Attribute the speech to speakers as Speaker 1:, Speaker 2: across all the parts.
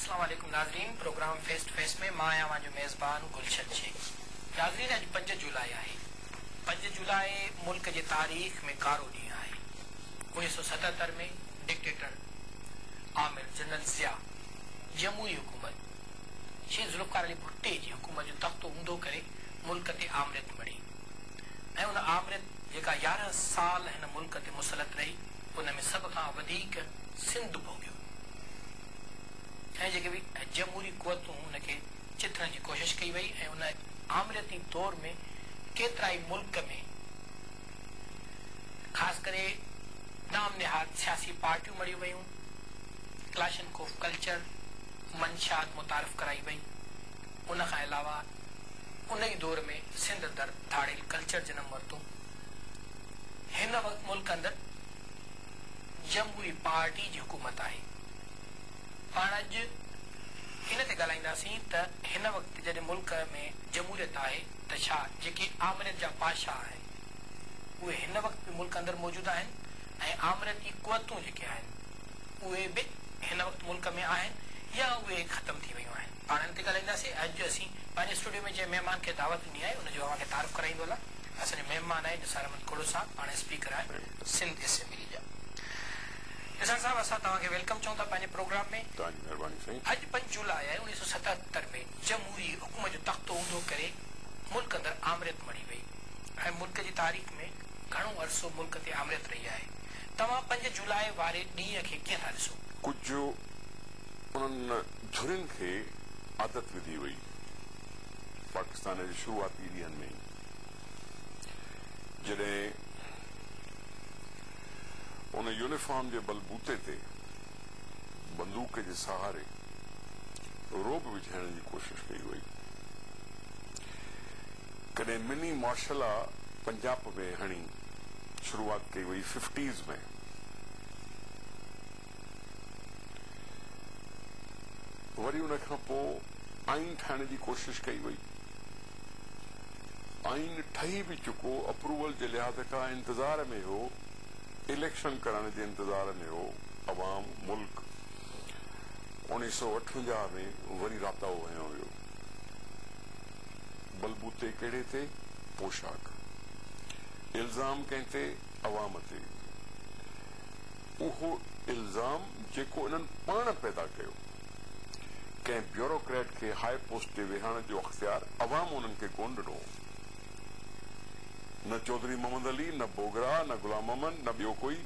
Speaker 1: السلام عليڪم ناظرين پروگرام فيس ٽو فيس ۾ مان آهيان اوهان جو ميزبان گلشن شيخ ناظرين اڄ پنج جولاء آهي پنج جولاء ملڪ جي تاريخ ۾ ڪارو ڏينهن آهي اڻويهه سؤ ستهتر ۾ ڊڪٽيٽر آمر جنرل ضياء جمهوري حڪومت شيخ ذوالفقار علي ڀٽي جي حڪومت جو تختو اونڌو ڪري ملڪ تي آمريت مڙهي ۽ ان آمريت جيڪا يارهن سال هن ملڪ تي مسلط رهي، ان ۾ سڀ کان وڌيڪ سنڌ ڀوڳيو ۽ جيڪي به جمهوري قوتون ان کي چٿڻ جي ڪوشش ڪئي وئي ۽ ان آمريتي دور ۾ ڪيترائي ملڪ ۾ خاص ڪري نام نهاد سياسي پارٽيون مڙهيون ويون، ڪلاشنڪوف ڪلچر، منشيات متعارف ڪرائي وئي، ان کان علاوه. ان ئي دور ۾ سنڌ اندر ڌاڙيل ڪلچر جنم ورتو. هن وقت ملڪ اندر جمهوري پارٽي جي حڪومت آهي. پاڻ اڄ ان تي ڳالهائينداسين ته هن وقت جڏهن ملڪ ۾ جمهوريت آهي ته ڇا جيڪي آمريت جا بادشاهه آهن اهي هن وقت به ملڪ اندر موجود آهن ۽ آمريتي قوتون جيڪي آهن اهي به هن وقت ملڪ ۾ آهن يا اهي ختم ٿي ويون آهن. پاڻ هن تي ڳالهائينداسين. اڄ جو اسين پنهنجي اسٽوڊيو ۾ جنهن مهمان کي دعوت ڏني آهي ان جو اوهان کي تعارف ڪرائيندو هلان. اسان جو مهمان آهي نثار احمد کوڙو صاحب پاڻ اسپيڪر آهن سنڌ اسيمبلي جا. نثار صاحب اسان توهان کي ويلڪم چئون ٿا پنهنجي پروگرام ۾. توهان جي مهرباني سائين. اڄ پنج جولاء آهي اوڻيهه سؤ ستهتر ۾ جمهوري حڪم جو تختو اونڌو ڪري ملڪ اندر آمريت مڙهي وئي ۽ ملڪ جي تاريخ ۾ گهڻو عرصو ملڪ تي آمريت رهي آهي توهان پنج جولاء واري ڏينهن کي ڪيئن ٿا ڏسو؟ ڪجهه
Speaker 2: انهن جھرين کي عادت وڌي وئي. پاڪستان جي شروعاتي ڏينهن ۾ ئي جڏهن ان يونيفارم جي بل بوتي تي بندوق جي سهاري رعب وجهائڻ جي ڪوشش ڪئي وئي. ڪڏهن مني مارشل آ پنجاپ ۾ هڻي شروعات ڪئي وئي ففٽيز ۾. وري ان کان پوء آئين ٺاهڻ جي ڪوشش ڪئي وئي. آئين ٺهي به چڪو، اپروول جي لحاظ کان انتظار ۾ هو، اليڪشن ڪرڻ جي انتظار ۾ هو، عوام، ملڪ. اڻيهه سؤ اٺونجاهه ۾ وري راتاهو هنيو ويو. بلبوتي ڪهڙي تي؟ پوشاڪ. الزام ڪنهن تي؟ عوام تي. اهو الزام جيڪو انهن پاڻ پيدا ڪيو. ڪنهن بيوروڪريٽ کي هاء پوسٽ تي ويهارڻ جو اختيار عوام انهن کي ڪونه ڏنو هو. نه چوڌري محمد علي، نه بوگرا، نه غلام محمد، نه ٻيو ڪوئي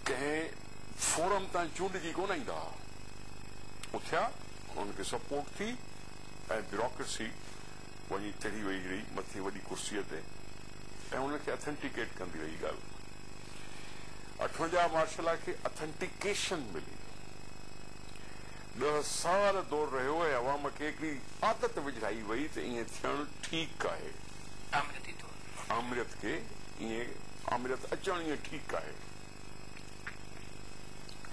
Speaker 2: ڪنهن فورم تان چونڊجي ڪونه ايندا ها. اٿيا، انهن کي سپورٽ ٿي ۽ بيوروڪريسي وڃي چڙهي ويئي رهي مٿي وڏي ڪرسيء تي ۽ ان کي اٿنٽيڪيٽ ڪندي رهي ڳالهه اٺونجاهه مارشلا کي اٿنٽيڪيشن ملي ڏهه سال دور رهيو ۽ عوام کي هڪڙي عادت وجهائي ويئي ته ائين ٿيڻ ٺيڪ آهي. آمريتي طور. آمريت کي ائين آمريت اچڻ ائين ٺيڪ آهي.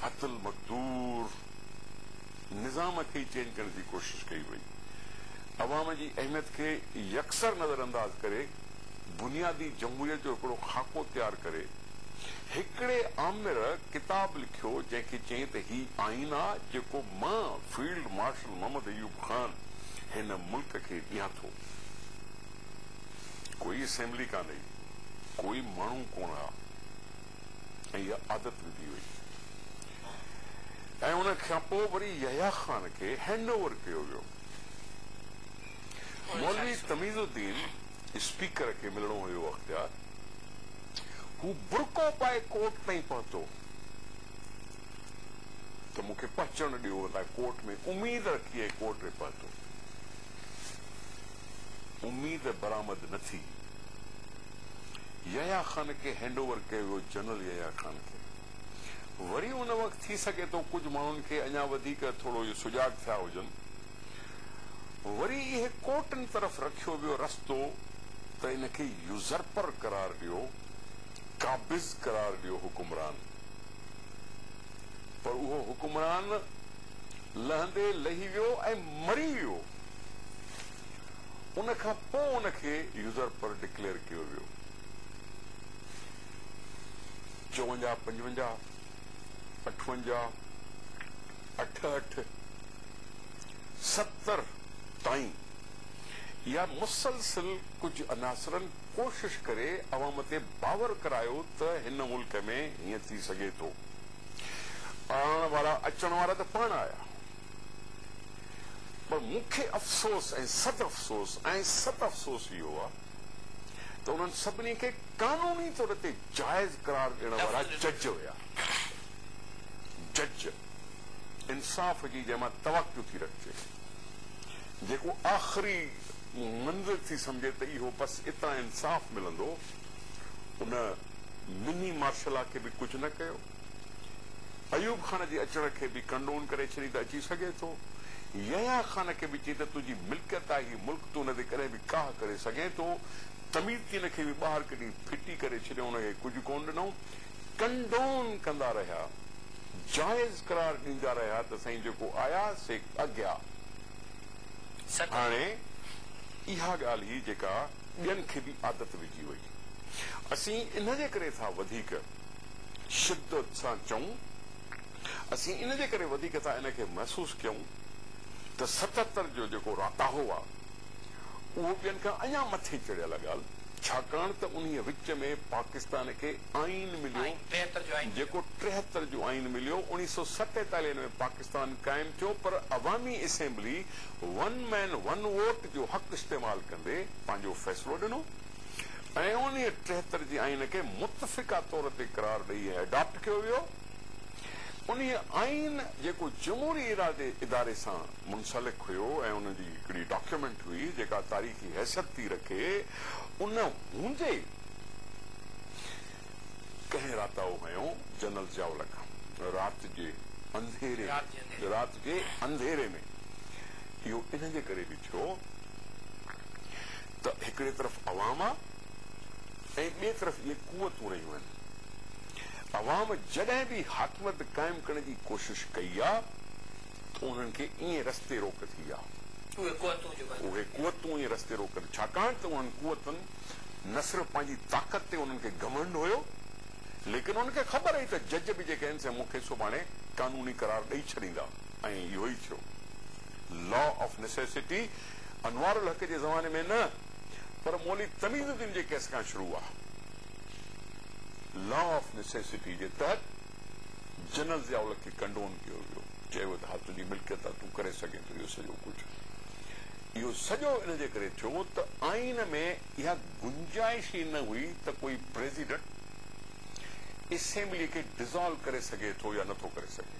Speaker 2: حت المقدور. نظام کي ئي چينج ڪرڻ جي ڪوشش ڪئي وئي. عوام جي اهميت کي يڪسر نظر انداز ڪري بنيادي جمهوريت جو هڪڙو خاڪو تيار ڪري هڪڙي آمر ڪتاب لکيو جنهن کي چيائين ته هي آئين آ جيڪو مان فيلڊ مارشل محمد ايوب خان هن ملڪ کي ڏيان ٿو. ڪوئي اسيمبلي ڪانهي ڪوئي ماڻهو ڪونه آ. ۽ اها عادت وڌي وئي ۽ ان کان پوء وري يحيٰ خان کي هينڊ اوور ڪيو ويو. مولوي تميز الدين اسپيڪر کي ملڻو هيو اختيار هو برقعو پائي ڪورٽ تائين پهتو ته مون کي پهچڻ ڏيو هتان ڪورٽ ۾ اميد رکي ۽ ڪورٽ ۾ پهتو اميد برآمد نه ٿي يحيٰ خان کي هينڊ اوور ڪيو ويو جنرل يحيٰ خان کي وري ان وقت ٿي سگهي ٿو ڪجهه ماڻهن کي اڃا وڌيڪ ٿورو اهي سجاڳ ٿيا هجن وري اهي ڪورٽن طرف رکيو ويو رستو ته ان کي يوزرپر قرار ڏيو قابض قرار ڏيو حڪمران پر اهو حڪمران لهندي لهي ويو ۽ مري ويو. ان کان پوء ان کي يوزرپر ڊڪليئر ڪيو ويو. چوونجاهه، پنجونجاهه، اٺونجاهه، اٺهٺ، ستر تائين يا مسلسل ڪجهه عناصرن ڪوشش ڪري عوام تي باور ڪرايو ته هن ملڪ ۾ هيئن ٿي سگهي ٿو. آڻڻ وارا اچڻ وارا ته پاڻ آيا. پر مون کي افسوس ۽ صد افسوس ۽ صد افسوس اهو آ ته انهن سڀني کي قانوني طور تي جائز قرار ڏيڻ وارا جج هيا جج انصاف جي جنهن مان توقع ٿي رکجي جيڪو آخري منزل ٿي سمجهي ته اهو بس اتان انصاف ملندو ان مني مارشلا کي به ڪجهه نه ڪيو. ايوب خان جي اچڻ کي به ڪنڊون ڪري ڇڏي ته اچي سگهي ٿو. يحيٰ خان کي به چئي ته تنهنجي ملڪيت آهي هي ملڪ تون ان تي ڪڏهن به ڪاهه ڪري سگهين ٿو. تميتين کي به ٻاهر ڪڍي ڦٽي ڪري ڇڏيو ان کي ڪجهه ڪونه ڏنو. ڪنڊون ڪندا رهيا. جائز قرار ڏيندا رهيا ته سائين جيڪو آيا سي اگيا. هاڻي اها ڳالهه هئي جيڪا ٻين کي به عادت وجهي وئي. اسين ان جي ڪري ٿا وڌيڪ. شدت سان چئون، اسين ان جي ڪري وڌيڪ ٿا ان کي محسوس ڪيون ته ستهتر جو جيڪو راتاهو آ اهو ٻين کان اڃا مٿي چڙهيل آ ڳالهه ڇاڪاڻ ته انهيء وچ ۾ پاڪستان کي آئين مليو جيڪو ٽيهتر جو آئين مليو اوڻيهه سئو ستيتاليهه ۾ پاڪستان قائم ٿيو پر عوامي assembly one man one vote جو حق استعمال ڪندي پنهنجو فيصلو ڏنو ۽ انهيء ٽيهتر جي آئين کي متفقه طور تي قرار ڏئي هي اڊاپٽ ڪيو ويو. انهيء آئين جيڪو جمهوري ارادي اداري سان منسلڪ هيو ۽ ان جي هڪڙي ڊاڪيومينٽ هئي جيڪا تاريخي حيثيت ٿي رکي ان هوندي ڪنهن راتاو هنيو جنرل ضياء الحق رات جي انڌيري رات جي انڌيري ۾ اهو انهن جي ڪري به ٿيو. ته هڪڙي طرف عوام آ ۽ ٻئي طرف اهي قوتون رهيون آهن. عوام جڏهن به حاڪميت قائم ڪرڻ جي ڪوشش ڪئي آ ته انهن کي ائين رستي روڪ ٿي آ. اهي قوتون جو ڳالهه اهي قوتون ائين رستي روڪ ٿي ڇاڪاڻ ته انهن قوتن نه صرف پنهنجي طاقت تي انهن کي گهمنڊ هيو ليڪن انهن کي خبر هئي ته جج به جيڪي آهن سي مون کي سڀاڻي قانوني قرار ڏئي ڇڏيندا ۽ اهو ئي ٿيو. Law of necessity Anwar ul Haq جي زماني ۾ نه پر مولوي تميز الدين جي ڪيس کان شروع آ. لا آف نيسيسٽي جي تحت جنرل ضياء الحق کي ڪنڊون ڪيو ويو. چيو ويو ته ها تنهنجي ملڪيت آ تون ڪري سگهين ٿو اهو سڄو ڪجهه. اهو سڄو ان جي ڪري ٿيو ته آئين ۾ اها گنجائش ئي نه هئي ته ڪوئي پريزيڊنٽ اسيمبلي کي ڊسالو ڪري سگهي ٿو يا نٿو ڪري سگهي.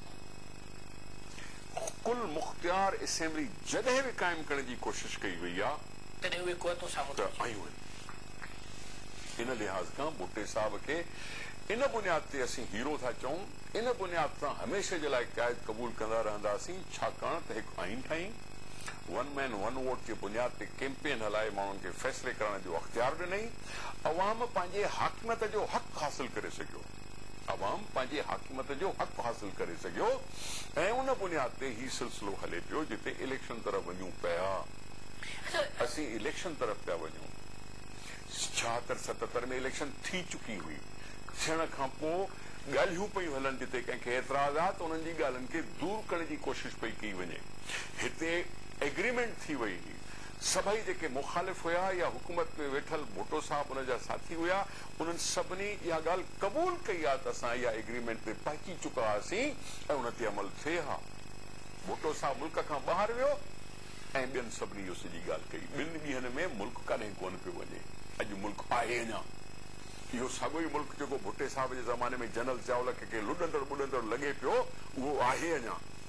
Speaker 2: ڪل مختيار اسيمبلي جڏهن به قائم ڪرڻ جي ڪوشش ڪئي وئي آ تڏهن اهي قوتون
Speaker 1: سامهون ته ٿيون آيون
Speaker 2: آهن ان لحاظ کان ڀٽي صاحب کي ان بنياد تي اسين هيرو ٿا چئون ان بنياد تان هميشه جي لاء قائد قبول ڪندا رهنداسين ڇاڪاڻ ته هڪ آئين ٺاهين ون مين ون ووٽ جي بنياد تي ڪيمپين هلائي ماڻهن کي فيصلي ڪرائڻ جو اختيار ڏنئي عوام پنهنجي حاڪميت جو حق حاصل ڪري سگهيو عوام پنهنجي حاڪميت جو حق حاصل ڪري سگهيو ۽ ان بنياد تي هي سلسلو هلي پيو جتي اليڪشن طرف وڃون پيا اسين اليڪشن طرف پيا وڃون ڇاهتر ستتر ۾ اليڪشن ٿي چڪي هئي ٿيڻ کان پو ڳالهيون پيون هلن جتي ڪنهن کي اعتراض آ ته انهن جي ڳالهين کي دور ڪرڻ جي ڪوشش پئي ڪئي وڃي هتي ايگريمينٽ ٿي وئي هئي سڀئي جيڪي مخالف هيا يا حڪومت ۾ ويٺل ڀٽو صاحب ان جا ساٿي هيا انهن سڀني اها ڳالهه قبول ڪئي ها ته اسان اها ايگريمينٽ تي پهچي چڪا هئاسين ۽ ان تي عمل ٿئي ها. ڀٽو صاحب ملڪ کان ٻاهر ويو ۽ ٻين سڀني اهو سڄي ڳالهه ڪئي. ٻن ڏينهن ۾ ملڪ ڪڏهن ڪونه پيو وڃي. اڄ ملڪ آهي اڃا. اهو ساڳيو ئي ملڪ جيڪو ڀٽي صاحب جي زماني ۾ جنرل ضياء الحق کي ڪنهن لڏندڙ ٻڏندڙ لڳي پيو اهو آهي اڃا.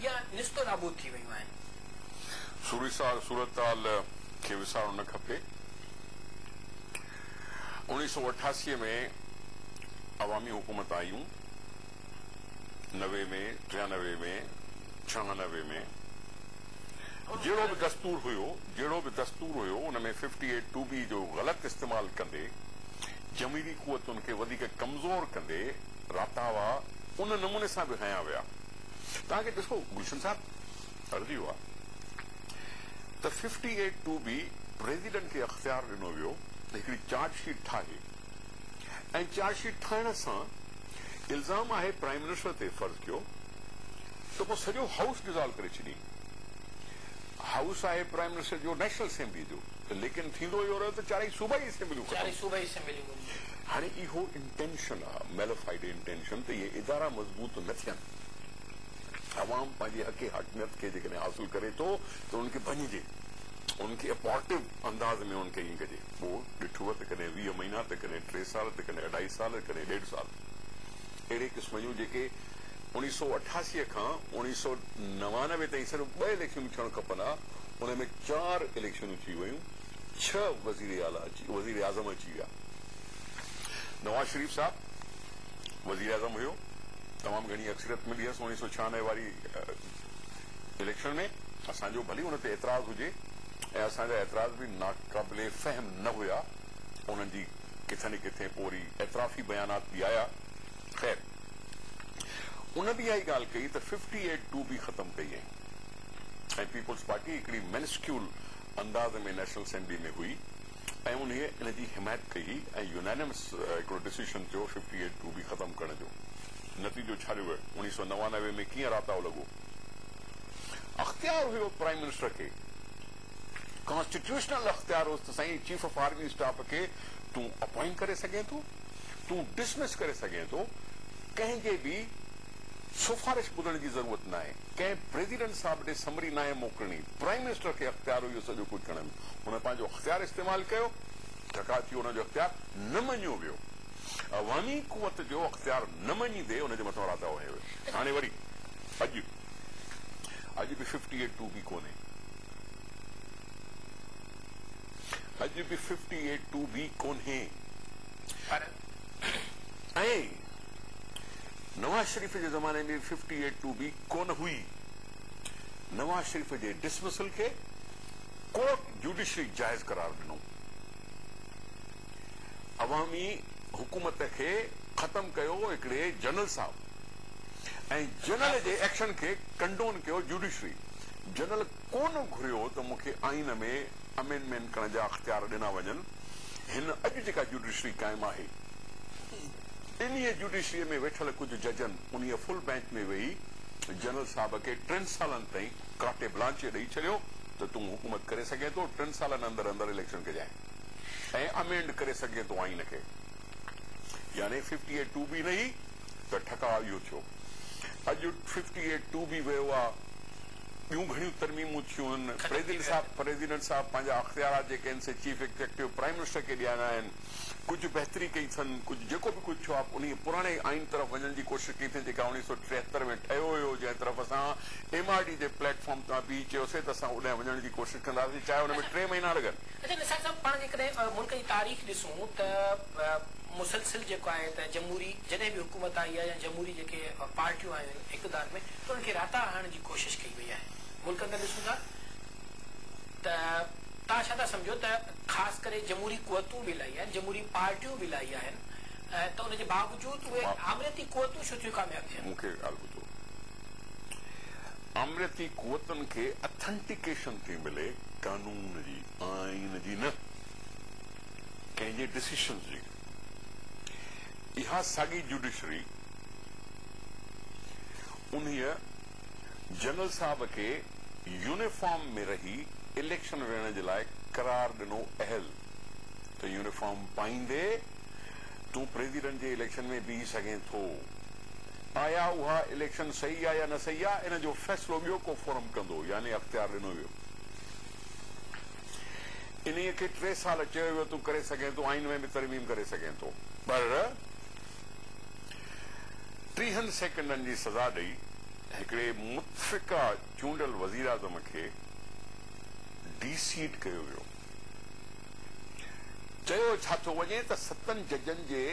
Speaker 1: يا نستو نابود ٿي ويون آهن. سوري ساڳ صورتحال
Speaker 2: کي وسارڻ نه کپي. اوڻيهه سؤ اٺاسي ۾ عوامي حڪومت آيون، نوي ۾، ٽيانوي ۾، ڇهانوي ۾، جهڙو به دستور هيو، جهڙو به دستور هيو، ان ۾ ففٽي ايٽ ٽو بي جو غلط استعمال ڪندي، جمهيري قوتن کي وڌيڪ ڪمزور ڪندي، راتاوا ان نموني سان به هنيا ويا. توهان کي ڏسو گلشن صاحب عرضي هئا ته fifty eight two B president کي اختيار ڏنو ويو ته هڪڙي چارج شيٽ ٺاهي ۽ چارج شيٽ ٺاهڻ سان الزام آهي پرائيم منسٽر تي فرض ڪيو ته پوء سڄو هائوس ڊزالو ڪري ڇڏين هائوس آهي پرائيم منسٽر جو نيشنل اسيمبلي جو ته ليڪن ٿيندو اهو رهيو ته چارئي صوبائي اسيمبليون ختم هاڻي اهو انٽينشن آ ميلافائيڊ انٽينشن ته اهي ادارا مضبوط نه ٿين. عوام پنهنجي حق حاڪميت کي جيڪڏهن حاصل ڪري ٿو ته انهن کي ڀڃجي. انهن کي اپورٽيو انداز ۾ انهن کي ائين ڪجي. پوء ڏٺوء ته ڪڏهن ويهه مهينا ته ڪڏهن ٽي سال ته ڪڏهن اڍائي سال ته ڪڏهن ڏيڍ سال اهڙي قسم جون جيڪي اڻيهه سؤ اٺاسي کان اڻيهه سؤ نوانوي تائين صرف ٻه اليڪشنون ٿيڻ کپن ها ان ۾ چار اليڪشنون ٿي ويون. ڇهه وزيراعظم اچي ويا. نواز شريف صاحب وزيراعظم هيو، تمام گهڻي اڪثريت ملي هيس اڻيهه سؤ ڇهانوي واري اليڪشن ۾، اسان جو ڀلي ان تي اعتراض هجي ۽ اسان جا اعتراض به ناقابل فهم نه هيا، انهن جي ڪٿي نه ڪٿي پوء وري اعترافي بيانات به آيا، خير ان به اها ئي ڳالهه ڪئي ته ففٽي ايٽ ٽو به ختم ڪئي ۽ پيپلز پارٽي هڪڙي منسڪيول انداز ۾ نيشنل اسيمبلي ۾ هئي ۽ انهيء ان جي حمايت ڪئي هئي ۽ يونانيمس هڪڙو ڊسيشن ٿيو ففٽي ايٽ ٽو بي ختم ڪرڻ جو نتيجو ڇا نڪريو اڻيهه سؤ نوانوي ۾ ڪيئن راتاو لڳو اختيار هيو پرائيم منسٽر کي ڪانسٽيٽيوشنل اختيار هوس ته سائين چيف آف آرمي اسٽاف کي تون اپوائنٽ ڪري سگهين ٿو تون ڊسمس ڪري سگهين ٿو ڪنهن جي به سفارش ٻڌڻ جي ضرورت ناهي، ڪنهن پريزيڊنٽ صاحب ڏي سمري ناهي موڪلڻي، پرائيم منسٽر کي اختيار هو اهو سڄو ڪجهه ڪرڻ جو، هن پنهنجو اختيار استعمال ڪيو، ٽڪاء ٿيو ان جو اختيار نه مڃيو ويو، عوامي قوت جو اختيار نه مڃيندي ان جي مٿان راتاهو هنيو ويو، هاڻي وري اڄ اڄ به ففٽي ايٽ ٽو بي ڪونهي، اڄ به ففٽي ايٽ ٽو بي ڪونهي. ائين ئي نواز شريف جي زماني ۾ ففٽي ايٽ ٽو به ڪونه هئي. نواز شريف جي ڊسمسل کي ڪورٽ جوڊيشري جائز قرار ڏنو. عوامي حڪومت کي ختم ڪيو هڪڙي جنرل صاحب ۽ جنرل جي ايڪشن کي ڪنڊون ڪيو جوڊيشري. جنرل ڪونه گهريو ته مون کي آئين ۾ امينڊمينٽ ڪرڻ جا اختيار ڏنا وڃن، هن اڄ جيڪا جوڊيشري قائم آهي، انهيء جوڊيشريء ۾ ويٺل ڪجهه ججن انهيء فل بئنچ ۾ ويهي جنرل صاحب کي ٽن سالن تائين ڪارٽي بلانچي ڏئي ڇڏيو ته تون حڪومت ڪري سگهين ٿو، ٽن سالن اندر اندر اليڪشن ڪجانء ۽ امينڊ ڪري سگهجين ٿو آئين کي. يعني ففٽي ايٽ ٽو بي رهي ته ٺڪاء اهو ٿيو. اڄ ففٽي ايٽ ٽو بي ويو آ. ٻيون گهڻيون ترميمون ٿيون آهن. پريزيڊنٽ صاحب پريزيڊنٽ صاحب پنهنجا اختيارات جيڪي آهن سي چيف ايگزيڪٽو پرائيم منسٽر کي ڏياريا آهن. ڪجهه بهتري ڪئي اٿن، ڪجهه جيڪو به ڪجهه ٿيو آهي انهيء پراڻي آئين طرف وڃڻ جي ڪوشش ڪئي اٿن جيڪا اوڻيهه سؤ ٽيهتر ۾ ٺهيو هيو جنهن طرف اسان ايم آر ڊي جي پليٽ فارم تان بيهي چيوسين ته اسان اوڏانهن وڃڻ جي ڪوشش ڪنداسين چاهي ان ۾ ٽي مهينا لڳن. اچو نثار صاحب پاڻ جيڪڏهن ملڪ
Speaker 1: جي تاريخ ڏسون ته مسلسل جيڪو آهي ته جمهوري جڏهن به حڪومت آئي آهي يا جمهوري جيڪي پارٽيون آيون آهن اقتدار ۾ ته انهن کي راتاڙ هڻڻ جي ڪوشش ڪئي وئي آهي ملڪ اندر ڏسون ٿا ته توهان ڇا ٿا سمجهو ته خاص ڪري جمهوري قوتون به الائي آهن جمهوري پارٽيون به الائي آهن ته ان جي باوجود اهي آمريتي قوتون ڇو ٿيون ڪامياب ٿين. مون کي هڪ ڳالهه ٻڌو
Speaker 2: آمريتي قوتن کي اٿنٽيڪيشن ٿي ملي قانون جي آئين جي نه ڪنهن جي ڊسيشن جي اها ساڳي جوڊيشري انهيء جنرل صاحب کي يونيفارم ۾ رهي اليڪشن وڙهڻ جي لاء قرار ڏنو اهل ته يونيفارم پائيندي تون پريزيڊنٽ جي اليڪشن ۾ بيهي سگهين ٿو. آيا اها اليڪشن صحيح آ يا نه صحيح آ ان جو فيصلو ٻيو ڪو فورم ڪندو يعني اختيار ڏنو ويو. انهيء کي ٽي سال چيو ويو تون ڪري سگهين ٿو، آئين ۾ به ترميم ڪري سگهين ٿو، پر ٽيهن سيڪنڊن جي سزا ڏئي هڪڙي متفقه چونڊل وزيراعظم کي ڊي سيٽ ڪيو ويو. چيو ڇا ٿو وڃي ته ستن ججن جي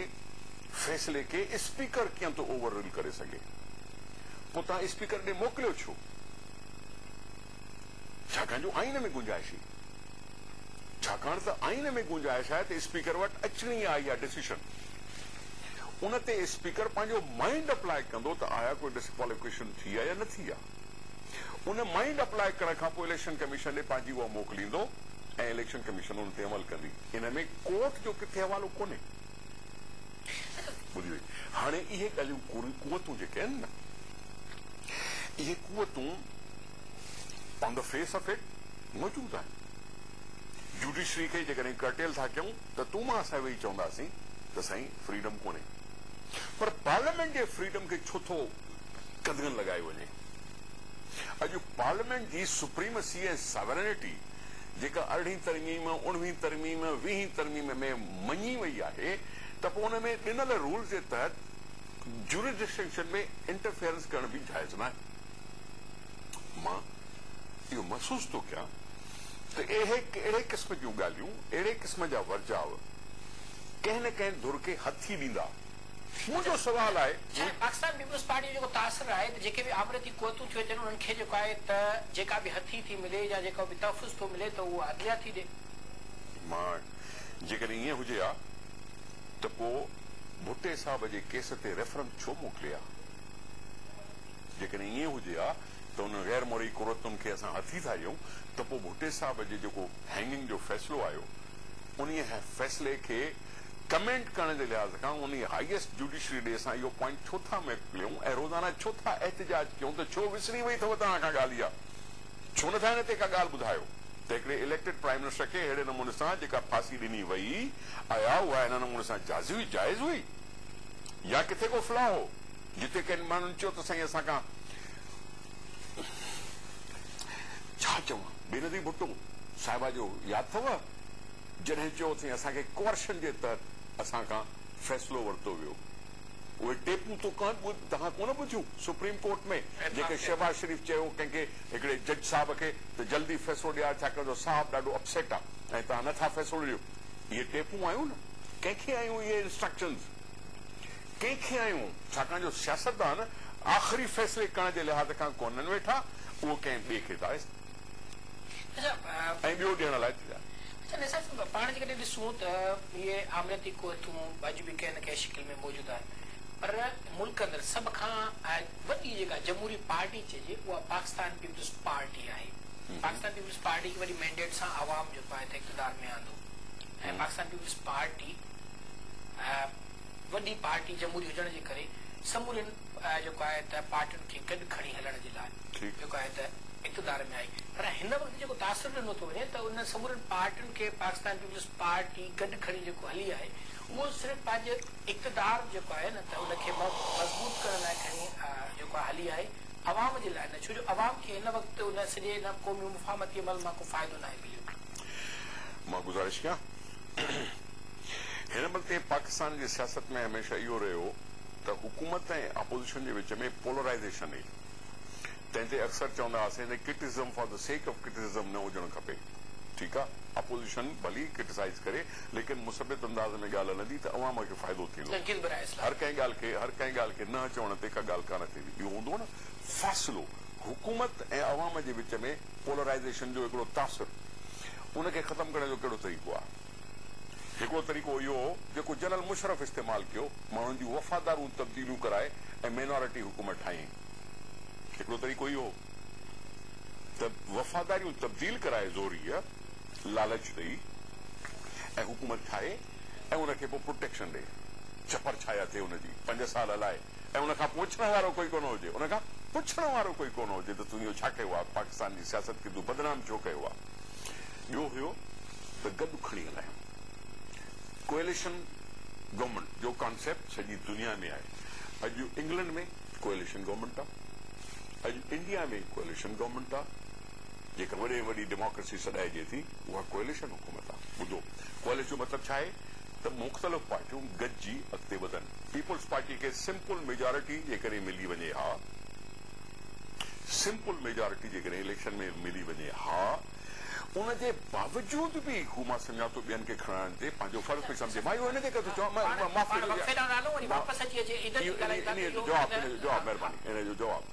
Speaker 2: فيصلي کي اسپيڪر ڪيئن ٿو اوور رول ڪري سگهي؟ پوء توهان اسپيڪر ڏي موڪليو ڇو؟ ڇاڪاڻ جو آئين ۾ گنجائش هئي. ڇاڪاڻ ته آئين ۾ گنجائش آهي ته اسپيڪر وٽ اچڻي آهي اها ڊسيشن. ان تي اسپيڪر پنهنجو مائينڊ اپلائي ڪندو ته آيا ڪوئي ڊسڪواليفڪيشن ٿي آهي يا نه ٿي آهي. ان مائينڊ اپلائي ڪرڻ کان پوء اليڪشن ڪميشن ڏي پنهنجي اها موڪليندو ۽ اليڪشن ڪميشن ان تي عمل ڪندي. ان ۾ ڪورٽ جو ڪٿي حوالو ڪونهي. ٻڌي وئي هاڻي اهي ڳالهيون ڪوريون قوتون جيڪي آهن نه اهي قوتون on the face of it موجود آهن جوڊيشري کي جيڪڏهن ڪرٽيل ٿا ڪيون ته تون مان اسان ويهي چونداسين ته سائين فريڊم ڪونهي پر پارليامينٽ جي فريڊم کي ڇو ٿو قدغن لڳايو وڃي اڄ پارليامينٽ جي سپريمسي ۽ ساورينٽي جيڪا ارڙهين ترميم، اڻويهين ترميم، ويهين ترميم ۾ مڃي وئي آهي ته پوء ان ۾ ڏنل رولز جي تحت جورسڊڪشن ۾ انٽرفيئرنس ڪرڻ به جائز ناهي. مان اهو محسوس ٿو ڪيان ته اهي اهڙي قسم جون ڳالهيون، اهڙي قسم جا ورجاء ڪنهن نه ڪنهن ڌر کي هٿي ڏيندا. منهنجو سوال آهي جي پاڪستان پيپلز پارٽي
Speaker 1: جو جيڪو تاثر آهي ته جيڪي به آمريتي قوتون ٿيون اچن انهن کي جيڪو آهي ته جيڪا به هٿي ٿي ملي يا جيڪو به تحفظ ٿو ملي ته اهو عدليا ٿي ڏي. مان
Speaker 2: جيڪڏهن ائين هجي ها ته پو ڀٽي صاحب جي ڪيس تي ريفرنس ڇو موڪلي ها؟ جيڪڏهن ائين هجي ها ته انهن غير مورئي قرتن کي اسان هٿي ٿا ڏيون ته پو ڀٽي صاحب جي جيڪو هينگنگ جو فيصلو آيو انهيء فيصلي کي ڪمينٽ ڪرڻ جي لحاظ کان انهي هائيسٽ جوڊيشري ڏي اسان اهو پوائنٽ ڇو ٿا مڪليون ۽ روزانه ڇو ٿا احتجاج ڪيون ته ڇو وسري وئي اٿو توهان کان ڳالهه اها ڇو نه ٿا ان تي ڪا ڳالهه ٻڌايو ته هڪڙي اليڪٽيڊ پرائيم منسٽر کي اهڙي نموني سان جيڪا ڦاسي ڏني وئي اها اها ان نموني سان جازي هئي جائز هئي يا ڪٿي ڪو فلا هو جتي ڪن ماڻهن چيو ته سائين اسان کان ڇا چوان بينظير ڀٽو صاحبه جو ياد اٿو جڏهن چيو اٿئين اسان کي ڪوئرشن جي تحت اسان کان فيصلو ورتو ويو اهي ٽيپون تو ڪهن توهان ڪونه ٻڌيون سپريم ڪورٽ ۾ جيڪي شهباز شريف چيو ڪنهن کي هڪڙي جج صاحب کي ته جلدي فيصلو ڏيار ڇا ڪريو صاحب ڏاڍو اپسيٽ آ ۽ توهان نه ٿا فيصلو ڏيو اهي ٽيپون آيون نه ڪنهن کي آيون اهي انسٽرڪشنز ڪنهن کي آيون ڇاڪاڻ جو سياستدان آخري فيصلي ڪرڻ جي لحاظ کان ڪونهن ويٺا اهو ڪنهن ٻئي کي ٿا ۽ ٻيو ڏيڻ لاء تيار. اچا نثار صاحب پاڻ
Speaker 1: جيڪڏهن ڏسون ته اهي آمريتي ڪوهتون اڄ به ڪنهن نه ڪنهن شڪل ۾ موجود آهن پر ملڪ اندر سڀ کان وڏي جيڪا جمهوري پارٽي چئجي اها پاڪستان پيپلز پارٽي آهي پاڪستان پيپلز پارٽي کي وڏي مينڊيٽ سان عوام جيڪو آهي اقتدار ۾ آندو ۽ پاڪستان پيپلز پارٽي وڏي پارٽي جمهوري هجڻ جي ڪري سمورين جيڪو آهي ته پارٽين کي گڏ کڻي هلڻ جي لاء جيڪو آهي ته اقتدار ۾ آئي پر هن وقت جيڪو تاثر ڏنو ٿو وڃي ته انهن سمورين پارٽين کي پاڪستان پيپلز پارٽي گڏ کڻي جيڪو هلي آهي اهو صرف پنهنجي اقتدار جيڪو آهي نه ته ان کي مضبوط ڪرڻ لاء کڻي جيڪو آهي هلي آهي عوام جي لاء نه ڇو جو عوام کي هن وقت ان سڄي ان قومي مفاهمتي عمل مان ڪو فائدو ناهي مليو. مان گذارش ڪيان.
Speaker 2: هن بلڪه پاڪستان جي سياست ۾ هميشه اهو رهيو ته حڪومت ۽ اپوزيشن جي وچ ۾ پولرائيزيشن ئي تنهن تي اڪثر چوندا هئاسين ته criticism for the sake of criticism نه هجڻ کپي ٺيڪ آ اپوزيشن ڀلي ڪرٽيسائيز ڪري ليڪن مثبت انداز ۾ ڳالهه هلندي ته عوام کي فائدو ٿيندو هر ڪنهن ڳالهه کي هر ڪنهن ڳالهه کي نه چوڻ تي ڪا ڳالهه ڪانه ٿيندي اهو هوندو نه فاصلو حڪومت ۽ عوام جي وچ ۾ پولرائيزيشن جو هڪڙو تاثر ان کي ختم ڪرڻ جو ڪهڙو طريقو آهي؟ هڪڙو طريقو اهو هو جيڪو جنرل مشرف استعمال ڪيو، ماڻهن جون وفادارون تبديليون ڪرائي ۽ مينارٽي حڪومت ٺاهيائين. هڪڙو طريقو اهو هو ته وفاداريون تبديل ڪرائي زوريء لالچ ڏئي ۽ حڪومت ٺاهي ۽ ان کي پوء پروٽيڪشن ڏئي، ڇپر ڇايا ٿئي ان جي، پنج سال هلائي. ۽ ان کان پوڇڻ وارو ڪوئي ڪونه هجي ان کان پڇڻ وارو ڪوئي ڪونه هجي ته تون اهو ڇا ڪيو آهي پاڪستان جي سياست کي تون بدنام ڇو ڪيو آهي ٻيو هيو ته گڏ کڻي هلايون ڪوئليشن گورنمينٽ جو ڪانسيپٽ سڄي دنيا ۾ آهي اڄ انگلنڊ ۾ ڪوئليشن گورنمينٽ آهي اڄ انڊيا ۾ ڪوئليشن گورنمينٽ آهي جيڪا وڏي وڏي ڊيموڪريسي سڏائجي ٿي، اها ڪوئليشن حڪومت آهي. ٻڌو، ڪوئليشن جو مطلب ڇا آهي ته مختلف پارٽيون گڏجي اڳتي وڌن. پيپلز پارٽي کي سمپل ميجارٽي جيڪڏهن ملي وڃي ها، سمپل ميجارٽي جيڪڏهن اليڪشن ۾ ملي وڃي ها، ان جي باوجود به هو مان سمجهان ٿو ٻين کي کڻائڻ تي پنهنجو فرض پئي سمجهي. مان اهو ان ڪري ٿو چوان، مان معاف ڪجو، اهو انهيء جو جواب آهي، انهيء جو جواب.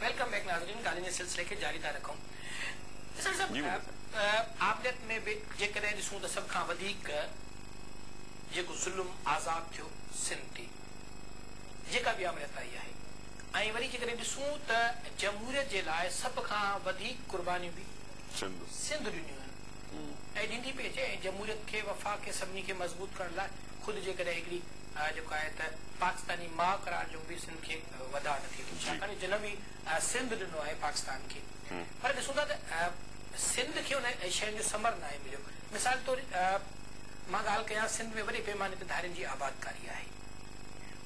Speaker 1: ويلڪم بيڪ ناظرين ڳالهين جي سلسلي کي جاري ٿا رکون اسحاق صاحب آمريت ۾ به جيڪڏهن ڏسون ته سڀ کان وڌيڪ جيڪو ظلم آزاد ٿيو سنڌ تي جيڪا به آمريت آئي آهي ۽ وري جيڪڏهن ڏسون ته جمهوريت جي لاء سڀ کان وڌيڪ قربانيون به سنڌ ڏنيون آهن ۽ ڏيندي پئي اچي ۽ جمهوريت کي وفاق کي سڀني کي مضبوط ڪرڻ لاء خود جيڪڏهن هڪڙي آء جيڪو آهي ته پاڪستاني ماء قرار ڏيون به سنڌ کي وڌاء نه ٿئي ٿو ڇاڪاڻ جو جنم ئي سنڌ ڏنو آهي پاڪستان کي پر ڏسون ٿا ته سنڌ کي انهن شين جو ثمر ناهي مليو مثال طور مان ڳالهه ڪيان سنڌ ۾ وڏي پيماني تي ڌارين جي آبادڪاري آهي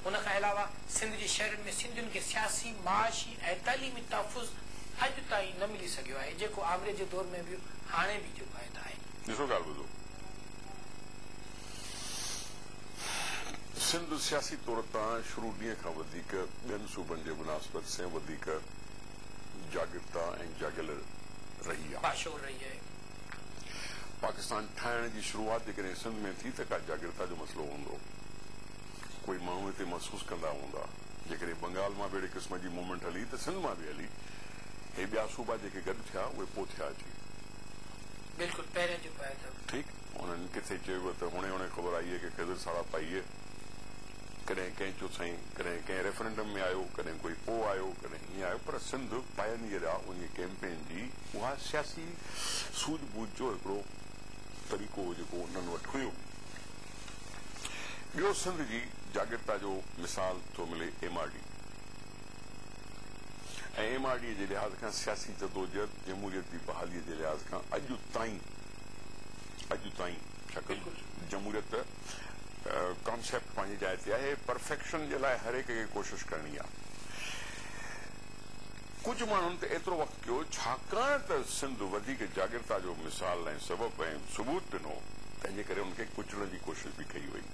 Speaker 1: ان کان علاوه سنڌ جي شهرن ۾ سنڌين کي سياسي معاشي ۽ تعليمي تحفظ اڄ تائين نه ملي سگهيو آهي جيڪو آمريت جي دور ۾ به هاڻي به جيڪو آهي ته آهي. ڏسو ڳالهه ٻڌو.
Speaker 2: سنڌ سياسي طور تان شروع ڏينهن کان وڌيڪ ٻين صوبن جي مناسبت سين وڌيڪ جاڳرتا ۽ جاڳيل رهي آ. باشعور رهي آهي. پاڪستان ٺاهڻ جي شروعات جيڪڏهن سنڌ ۾ ٿي ته ڪا جاڳرتا جو مسئلو هوندو. ڪوئي ماڻهو هتي محسوس ڪندا هوندا. جيڪڏهن بنگال مان به اهڙي قسم جي موومينٽ هلي ته سنڌ مان به هلي. هي ٻيا صوبا جيڪي گڏ ٿيا اهي پوء ٿيا اچي.
Speaker 1: بلڪل پهرين جيڪو آهي ته. ٺيڪ. انهن
Speaker 2: ڪٿي چيو ته هڻي هڻي خبر آئي ڪي خضر ساڙاپائيء ڪڏهن ڪنهن چيو سائين ڪڏهن ڪنهن ريفرنڊم ۾ آيو ڪڏهن ڪوئي پوء آيو ڪڏهن ايئن آيو پر سنڌ پائنيئر آ انهيء ڪيمپين جي اها سياسي سوجهه ٻوجهه جو هڪڙو طريقو هو جيڪو انهن وٽ هيو ٻيو سنڌ جي جاڳرتا جو مثال ٿو ملي M R D ۽ M R D جي لحاظ کان سياسي جدوجهد جمهوريت جي بحاليء جي لحاظ کان اڄ تائين اڄ تائين شڪل جمهوريت ڪانسيپٽ پنهنجي جاء تي آهي، پرفيڪشن جي لاء هر هڪ کي ڪوشش ڪرڻي آهي. ڪجهه ماڻهن ته ايترو وقت ڪيو ڇاڪاڻ ته سنڌ وڌيڪ جاڳرتا جو مثال ۽ سبب ۽ ثبوت ڏنو تنهنجي ڪري ان کي ڪچلڻ جي ڪوشش به ڪئي وئي.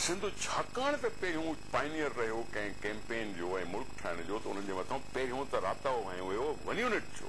Speaker 2: سنڌ ڇاڪاڻ ته پهريون پائنيئر رهيو ڪنهن ڪيمپين جو ۽ ملڪ ٺاهڻ جو ته انهن جي مٿان پهريون ته راتاو هنيو ويو ونيونٽ جو.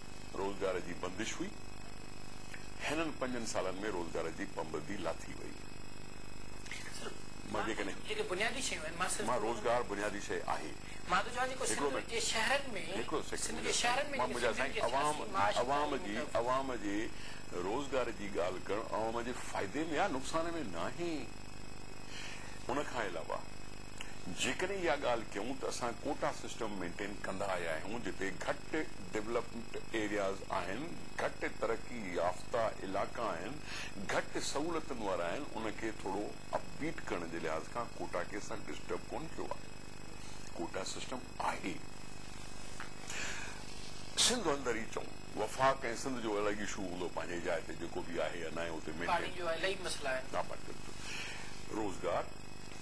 Speaker 2: روزگار جي بندش هئي، هنن پنجن سالن ۾ روزگار جي پنبندي لاٿي وئي. مان جيڪڏهن. جيڪي بنيادي شيون آهن،
Speaker 1: مان صرف. مان روزگار بنيادي
Speaker 2: شيء آهي. مان ٿو چوان جيڪو سنڌ جي شهرن ۾. هڪڙو سيڪنڊ. سنڌ جي شهرن ۾ جيڪي سنڌين کي سياسي معاشي. عوام جي عوام جي روزگار جي ڳالهه ڪرڻ عوام جي فائدي ۾ آهي نقصان ۾ ناهي ان کان علاوه. جيڪڏهن اها ڳالهه ڪيون ته اسان ڪوٽا سسٽم مينٽين ڪندا آيا آهيون جتي گهٽ ڊولپمنٽ ايرياز آهن، گهٽ ترقي يافته علائقا آهن، گهٽ سهولتن وارا آهن ان کي ٿورو اپ بيٽ ڪرڻ جي لحاظ کان ڪوٽا کي اسان ڊسٽرب ڪونه ڪيو آهي. ڪوٽا سسٽم آهي. سنڌ اندر ئي چئون وفاق ۽ سنڌ جو الڳ اشو هوندو پنهنجي جاء تي جيڪو به آهي يا ناهي اتي مينٽين. پاڻي جو الائي مسئلا آهن. روزگار.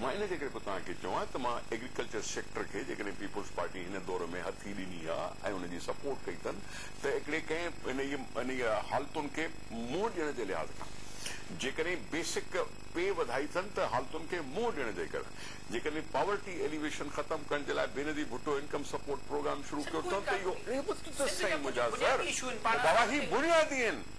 Speaker 2: مان ان جي ڪري پيو توهان کي چوان ته مان ايگريڪلچر سيڪٽر کي جيڪڏهن پيپلز پارٽي هن دور ۾ هٿي ڏني ها ۽ ان جي سپورٽ ڪئي اٿن ته هڪڙي ڪنهن انهيء انهيء حالتن کي منهن ڏيڻ جي لحاظ کان جيڪڏهن بيسڪ پي وڌائي اٿن ته حالتن کي منهن ڏيڻ جي ڪري جيڪڏهن پاورٽي ايليويشن ختم ڪرڻ جي لاء Benazir Bhutto income support programme شروع ڪيو اٿن ته اهو اهي به ته سائين منهنجا سر بابا هي بنيادي آهن.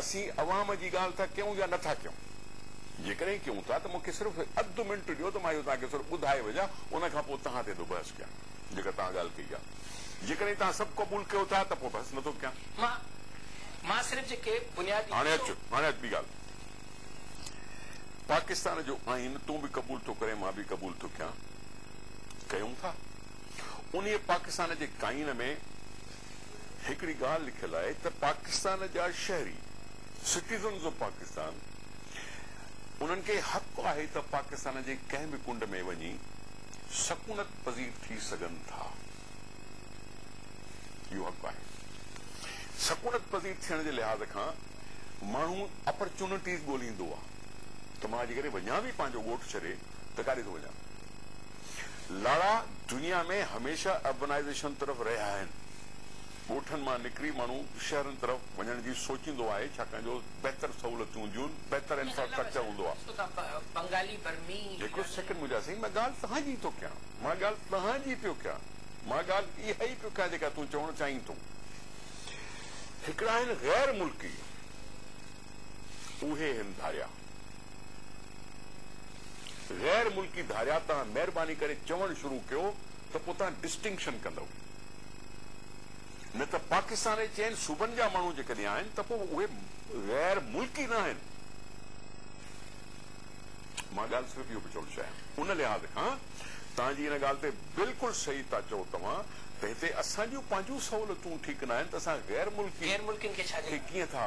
Speaker 2: اسين عوام جي ڳالهه ٿا ڪيون يا نٿا ڪيون؟ جيڪڏهن ڪيون ٿا ته مون کي صرف اڌ منٽ ڏيو ته مان اهو توهان کي صرف ٻڌائي وجهان ان کان پوء توهان تي ٿو بحث ڪيان جيڪا توهان ڳالهه ڪئي آهي. جيڪڏهن توهان سڀ قبول ڪيو ٿا ته پوء بحث نٿو ڪيان. مان مان
Speaker 1: صرف جيڪي بنيادي هاڻي اچ اصول. هاڻي اچ ٻي
Speaker 2: ڳالهه پاڪستان جو آئين تون به قبول ٿو ڪرين مان به قبول ٿو ڪيان ڪيون ٿا انهي پاڪستان جي ڪائين ۾ هڪڙي ڳالهه لکيل آهي ته پاڪستان جا شهري، Citizens of Pakistan، انهن کي حق آهي ته پاڪستان جي ڪنهن به ڪنڊ ۾ وڃي سڪونت پذير ٿي سگهن ٿا. اهو حق آهي. سڪونت پذير ٿيڻ جي لحاظ کان ماڻهو اپرچونٽيز ڳولهيندو آهي ته مان جيڪڏهن وڃان به پنهنجو ڳوٺ ڇڏي ته ڪاڏي ٿو وڃان. لاڙا دنيا ۾ هميشه اربنائيزيشن طرف رهيا آهن. ڳوٺن مان نڪري ماڻهو شهرن طرف وڃڻ جي سوچيندو آهي ڇاڪاڻ جو بهتر سهولتون هونديون آهن، بهتر انفراسٽرڪچر هوندو آهي. هڪڙو سيڪنڊ منهنجا سائين مان ڳالهه توهان جي ئي ٿو ڪيان، مان ڳالهه توهان جي پيو ڪيان، مان ڳالهه اها ئي پيو ڪيان جيڪا تون چوڻ چاهين ٿو. هڪڙا آهن غير ملڪي اهي هن ڌاريا. غير ملڪي ڌاريا تان مهرباني ڪري چوڻ شروع ڪيو ته پو تان ڊسٽنڪشن ڪندئو نه ته پاڪستان ۽ چئن صوبن جا ماڻهو جيڪڏهن آهن ته پو اهي غير ملڪي ناهن مان ڳالهه صرف اهو پيو چوڻ چاهيان ان لحاظ کان تان جي ان ڳالهه تي بلڪل صحيح تا چئو توهان ته هتي اسان جون پنهنجون سهولتون ٺيڪ ناهن ته اسان غير ملڪي غير ملڪين کي ڇا ڏيون. کي ڪيئن ٿا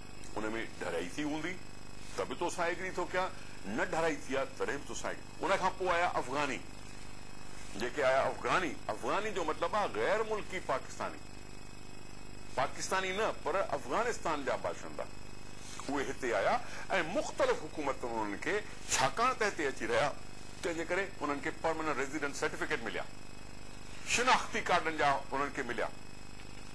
Speaker 2: ان ۾ ڍرائي ٿي هوندي ته به توسان ايگري ٿو ڪيان، نه ڍرائي ٿي آهي تڏهن به توسان ايگري. ان کان پوء آيا افغاني، جيڪي آيا افغاني، افغاني جو مطلب آهي غير ملڪي پاڪستاني، پاڪستاني نه پر افغانستان جا باشندا، اهي هتي آيا ۽ مختلف حڪومتن انهن کي ڇاڪاڻ ته هتي اچي رهيا تنهن جي ڪري انهن کي پرماننٽ ريزيڊنٽ سرٽيفڪيٽ مليا، شناختي ڪارڊن جا انهن کي مليا.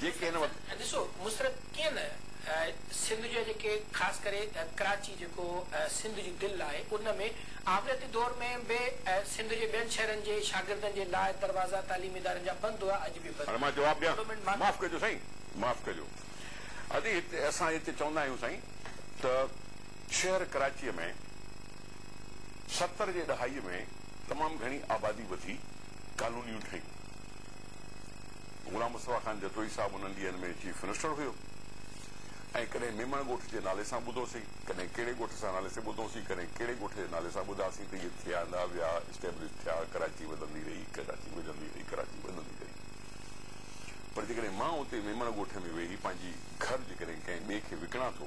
Speaker 2: جيڪي هن وقت. ڏسو مسرت ڪيئن
Speaker 1: نه سنڌ جا جيڪي خاص ڪري ڪراچي جيڪو سنڌ جي دل آهي ان ۾ آمريتي دور ۾ به سنڌ جي ٻين شهرن جي شاگردن جي لاء دروازا تعليمي ادارن جا بند هئا اڄ به بند هاڻي مان جواب ڏيان
Speaker 2: معاف ڪجو سائين معاف ڪجو ادي هتي اسان هتي چوندا آهيون سائين ته شهر ڪراچي ۾ ستر جي ڏهائي ۾ تمام گهڻي آبادي وڌي ڪالونيون ٺهيون. غلام مصطفيٰ خان جتوئي صاحب انهن ڏينهن ۾ چيف منسٽر هيو ۽ ڪڏهن ميمڻ ڳوٺ جي نالي سان ٻڌوسين، ڪڏهن ڪهڙي ڳوٺ سان نالي سي ٻڌوسين، ڪڏهن ڪهڙي ڳوٺ جي نالي سان ٻڌاسين ته اهي ٿيا نه ويا، اسٽيبلش ٿيا، ڪراچي وڌندي رهي، ڪراچي وڌندي رهي، ڪراچي وڌندي رهي. پر جيڪڏهن مان اتي ميمڻ ڳوٺ ۾ ويهي پنهنجي گهر جيڪڏهن ڪنهن ٻئي کي وڪڻان ٿو،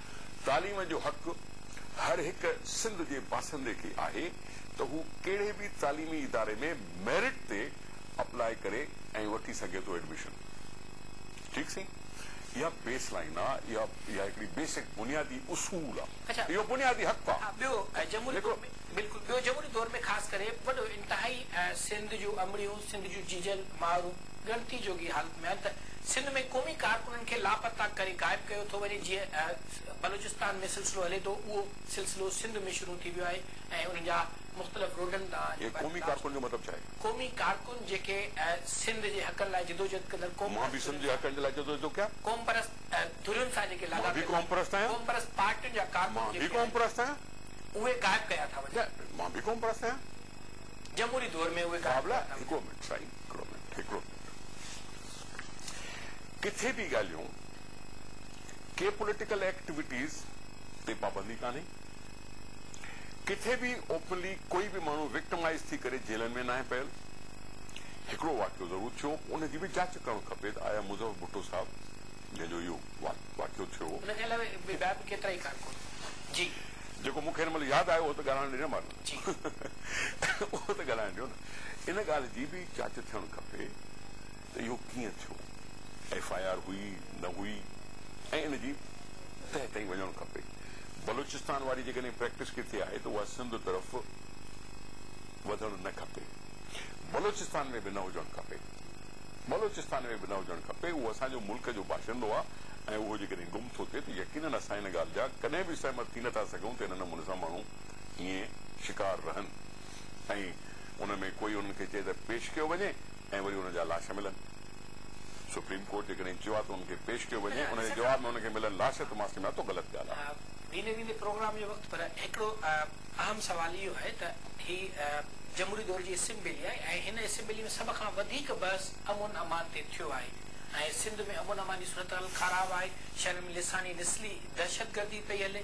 Speaker 2: تعليم جو حق هر هڪ سنڌ جي باشندي کي آهي ته هو ڪهڙي به تعليمي اداري ۾ ميرٽ تي اپلاء ڪري ۽ وٺي سگهي ٿو ايڊميشن ٺيڪ سائين اها بيس لائين آ اها اها هڪڙي بيسڪ بنيادي اصول آ اهو بنيادي حق آ ٻيو جمهوري دور ۾
Speaker 1: بلڪل ٻيو جمهوري دور ۾ خاص ڪري وڏو انتهائي سنڌ جون امڙيون سنڌ جون جيجل، مائرون ڳڻتي جوڳي حالت ۾ آهن ته سنڌ ۾ قومي ڪارڪنن کي لاپتا ڪري غائب ڪيو ٿو وڃي، جيئن بلوچستان ۾ سلسلو هلي ٿو، اهو سلسلو سنڌ ۾ شروع ٿي ويو آهي ۽ انهن جا مختلف روڊن تان جيڪي پنهنجي لاش کڻي وڃن ٿا.
Speaker 2: قومي ڪارڪن
Speaker 1: جيڪي سنڌ جي حقن لاء جدوجهد ڪندڙ قومپرست ڌرين سان جيڪي
Speaker 2: لاڳاپيل
Speaker 1: آهن، قومپرست
Speaker 2: پارٽين جا
Speaker 1: ڪارڪن جيڪي آهن،
Speaker 2: اهي غائب ڪيا
Speaker 1: ٿا وڃن. جمهوري
Speaker 2: دور ۾ اهي قائم ڪيا نه ويا. ڪٿي به ڳالهيون ڪي پوليٽيڪل ايڪٽويٽيز تي پابندي ڪانهي، ڪٿي به اوپنلي ڪوئي به ماڻهو وڪٽمائيز ٿي ڪري جيلن ۾ ناهي پيل. هڪڙو واقعو ضرور ٿيو ان جي به جاچ ڪرڻ کپي ته آيا مظفر ڀٽو صاحب جنهن جو اهو واقعو
Speaker 1: ٿيو هو. ان کان
Speaker 2: علاوه ٻيا به ڪيترائي ڪارڪن جي. جيڪو مون کي هن مهل ياد آيو هو ته ڳالهائڻ ڏنم هن. جي اهو ته ڳالهائڻ ڏيو نه ان ڳالهه جي به جاچ ٿيڻ کپي ته اهو ڪيئن ٿيو ايف آء آر هئي نه هئي ۽ ان جي تهه تائين وڃڻ کپي بلوچستان واري جيڪڏهن پريڪٽس ڪٿي آهي ته اها سنڌ طرف وڌڻ نه کپي بلوچستان ۾ به نه هجڻ کپي بلوچستان ۾ به نه هجڻ کپي اهو اسان جو ملڪ جو باشندو آهي ۽ اهو جيڪڏهن گم ٿو ٿئي ته يقينن اسان ان ڳالهه جا ڪڏهن به سهمت ٿي نه ٿا سگهون ته ان نموني سان ماڻهو ائين شڪار رهن ۽ ان ۾ ڪوئي انهن کي چئي ته پيش ڪيو وڃي ۽ وري انهن جا لاش ملن. سپريم ڪورٽ جيڪڏهن چيو آهي ته انهن کي پيش ڪيو وڃي ان جي جواب ۾ انهن کي ملن لاش ته مان سمجهان ٿو غلط ڳالهه آهي. ويندي ويندي پروگرام
Speaker 1: جو وقت پر هڪڙو اهم سوال اهو آهي ته هي جمهوري دور جي اسيمبلي آهي ۽ هن اسيمبلي ۾ سڀ کان وڌيڪ بحث امن امان تي ٿيو آهي ۽ سنڌ ۾ امن امان جي صورتحال خراب آهي، شهرن ۾ لساڻي نسلي دهشتگردي پئي هلي،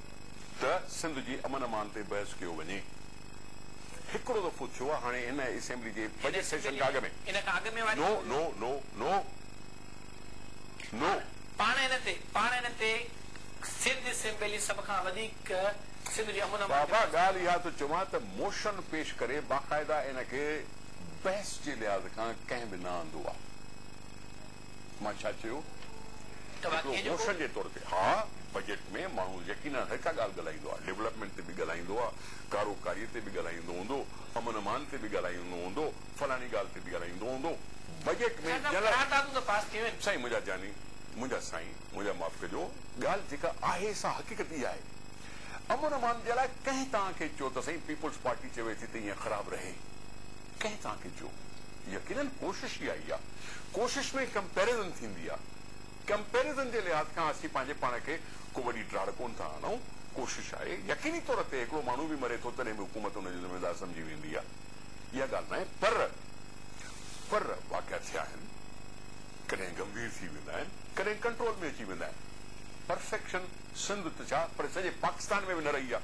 Speaker 2: ته سنڌ جي امن امان تي بحث ڪيو وڃي. هڪڙو دفعو ٿيو آهي هاڻي هن اسيمبلي جي بجيٽ سيشن کان اڳ ۾. ان کان اڳ ۾ واري.
Speaker 1: نو نو
Speaker 2: نو نو نو. پاڻ
Speaker 1: ان تي پاڻ ان تي سنڌ اسيمبلي سڀ کان وڌيڪ سنڌ جي امن امان تي. بابا ڳالهه اها ٿو چوان
Speaker 2: ته موشن پيش ڪري باقاعده ان کي بحث جي لحاظ کان ڪنهن به نه آندو آهي. مان ڇا چيو؟ هڪڙو موشن جي طور تي ها، بجيٽ ۾ ماڻهو يقينن هر ڪا ڳالهه ڳالهائيندو آهي، ڊولپمينٽ تي به ڳالهائيندو آهي، ڪارو ڪاري تي به ڳالهائيندو هوندو، امن امان تي به ڳالهائيندو هوندو، فلاڻي ڳالهه تي به ڳالهائيندو هوندو، بجيٽ ۾ جنرل. سائين منهنجا جاني، منهنجا سائين، منهنجا معاف ڪجو، ڳالهه جيڪا آهي سا حقيقت اها آهي، امن امان جي لاء ڪنهن توهان کي چيو ته سائين پيپلز پارٽي چوي ٿي ته ايئن خراب رهي. ڪنهن سان ڪجو؟ يقينن ڪوشش ئي آهي اها. ڪوشش ۾ ڪمپيرزن ٿيندي آهي. ڪمپيرزن جي لحاظ کان اسين پنهنجي پاڻ کي ڪو وڏي ڊاڙ ڪونه ٿا آڻون. ڪوشش آهي. يقيني طور تي هڪڙو ماڻهو به مري ٿو تڏهن به حڪومت ان جو ذميوار سمجهي ويندي آهي. اها ڳالهه ناهي پر پر واقعا ٿيا آهن. ڪڏهن گنڀير ٿي ويندا آهن. ڪڏهن ڪنٽرول ۾ اچي ويندا آهن. پرفيڪشن سنڌ ته ڇا پر سڄي پاڪستان ۾ به نه رهي آهي.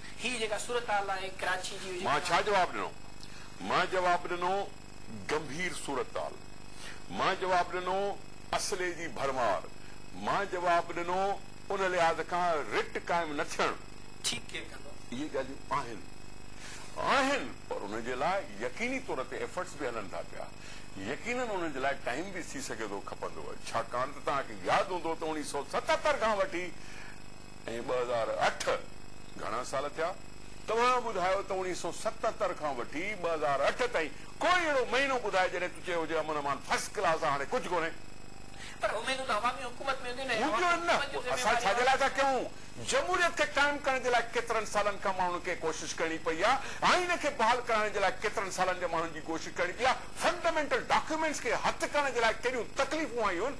Speaker 2: هي جيڪا صورتحال
Speaker 1: آهي ڪراچي جي جيڪا. مان ڇا جواب ڏنو؟
Speaker 2: مان جواب ڏنو گنڀير صورتحال، مان جواب ڏنو اسلحي جي ڀرمار، مان جواب ڏنو ان لحاظ کان رٽ قائم نه ٿيڻ. ٺيڪ ڪير ڪندو؟ اهي ڳالهيون آهن، آهن پر ان جي لاء يقيني طور تي ايفرٽس به هلن ٿا پيا، يقينن ان جي لاء ٽائيم به ٿي سگهي ٿو کپندو، ڇاڪاڻ ته توهان کي ياد هوندو ته اوڻيهه سؤ ستهتر کان وٺي، ۽ ٻه هزار اٺ گهڻا سال ٿيا؟ توهان ٻڌايو ته اوڻيهه سؤ ستهتر کان وٺي ٻه هزار اٺ تائين ڪوئي اهڙو مهينو ٻڌاء جڏهن تو چيو هجي امن امان فرسٽ ڪلاس آ هاڻي ڪجهه ڪونهي. پر
Speaker 1: اميدون ته عوامي حڪومت ۾ هونديون نه ۽ عوامي
Speaker 2: حڪومت جون ذميواري عوام جي هٿ ۾ آهن. جمهوريت کي قائم ڪرڻ جي لاء ڪيترن سالن کان ماڻهن کي ڪوشش ڪرڻي پئي آ، آئين کي بحال ڪرائڻ جي لاء ڪيترن سالن جي ماڻهن جي ڪوشش ڪرڻي پئي آ، فنڊامينٽل ڊاڪيومينٽس کي هٿ ڪرڻ جي لاء ڪيڏيون تڪليفون آيون هن.